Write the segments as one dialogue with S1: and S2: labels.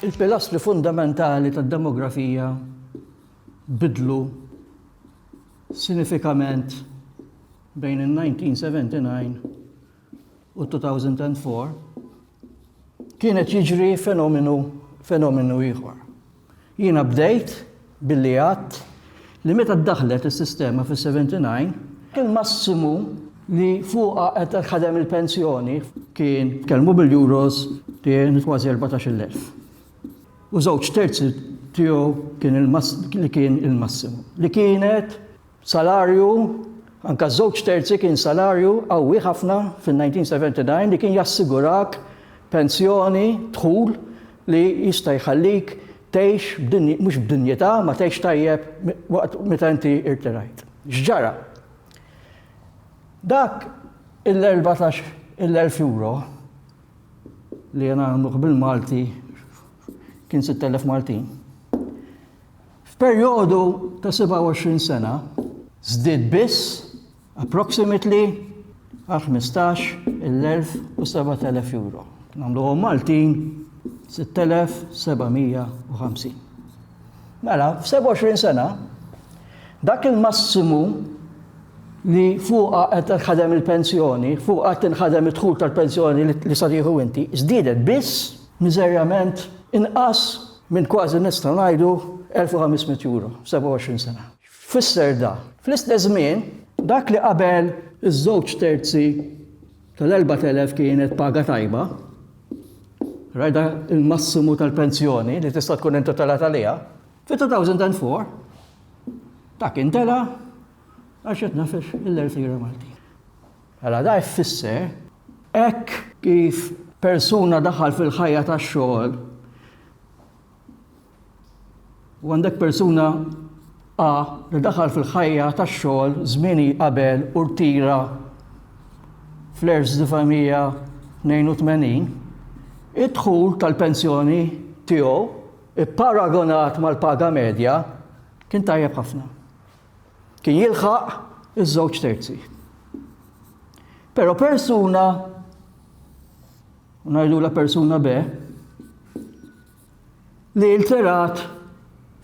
S1: Il-pilastri fundamentali tad-demografija bidlu sinifikament bejn il-1979 u 2004, kienet jiġri fenomenu fenomenu ieħor. Jiena bdejt billi għadt li meta ddaħħlet is-sistema fis-79, il-massimu li fuqha qed ħadem il-pensjoni kien tkellmu bil-euros kien kważi 14,000. U żewġ terzi tiegħu kien li kien il-massimu li kienet Salarju, anke żewġ terzi kien salarju qawwi ħafna fin-1979 li kien jassigurak pensjoni, dħul li jista' jħallik tgħix b'dinj-, mhux b'dinjità, ma tgħix tajjeb waqt meta inti irtirajt. X'ġara? Dak il-erbatax il-elf euro li jien għamluh bil-Malti kien sitt elef Maltin. F'perjodu ta' 27 sena żdied biss approximately għal ħmistax il-elf u sebat elef euro. Nagħmluhom Maltin sitt elef seba' mija u ħamsin. Mela, f'27 sena dak il-massimu li fuqha qed tinħadem il-pensjoni, fuqha qed tinħadem id-dħul tal-pensjoni li sa tieħu inti, żdiedet biss miżerjament inqas minn kważi nistgħu ngħidu 1,500 euro f'27 sena. X'fisser da? Fl-istess żmien, dak li qabel iż-żewġ terzi tal-4,000 kienet paga tajba, rajda il-massimu tal-pensjoni li tista' tkun intitolat għaliha, fit-2004 dak intela' għax qed nafex il-irtira Maltin. Mela da jfisser, hekk kif persuna daħal fil-ħajja tax-xogħol u għandek persuna A li daħal fil-ħajja tax-xogħol żmieni qabel u rtira fl-1982, id-dħul tal-pensjoni tiegħu ipparagonat mal-paga medja kien tajjeb ħafna. kien jilħaq iż-żewġ terzi. Però persuna, ngħidu la persuna be, li ilterat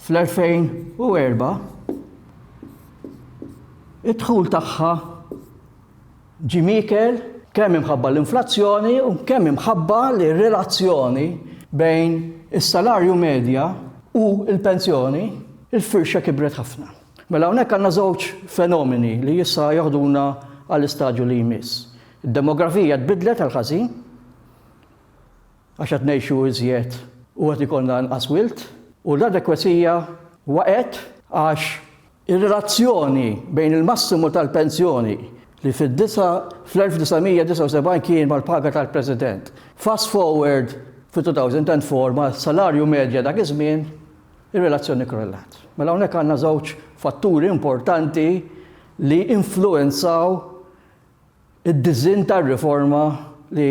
S1: fl-2004 id-dħul tagħha Jim Eaker, Kemm imħabba l-inflazzjoni u kemm imħabba li r-relazzjoni bejn is-salarju medja u l-pensjoni, il-firxa kibret ħafna. Mela hawnhekk għandna żewġ fenomeni li issa joħduna għall-istadju li jmiss. Id-demografija tbiddlet għall-ħażin, għax qed ngħixu iżjed u qed ikollna inqas wild, u l-adekwezija waqgħet għax ir-relazzjoni bejn il-massimu tal-pensjoni li fl-1979 kien mal-paga tal-President, fast forward fil-2004 mas-salarju medja dak iż-żmien, ir-relazzjoni krollat. Mela hawnhekk għandna żewġ fatturi importanti li influwenzaw id-disinn tar-riforma li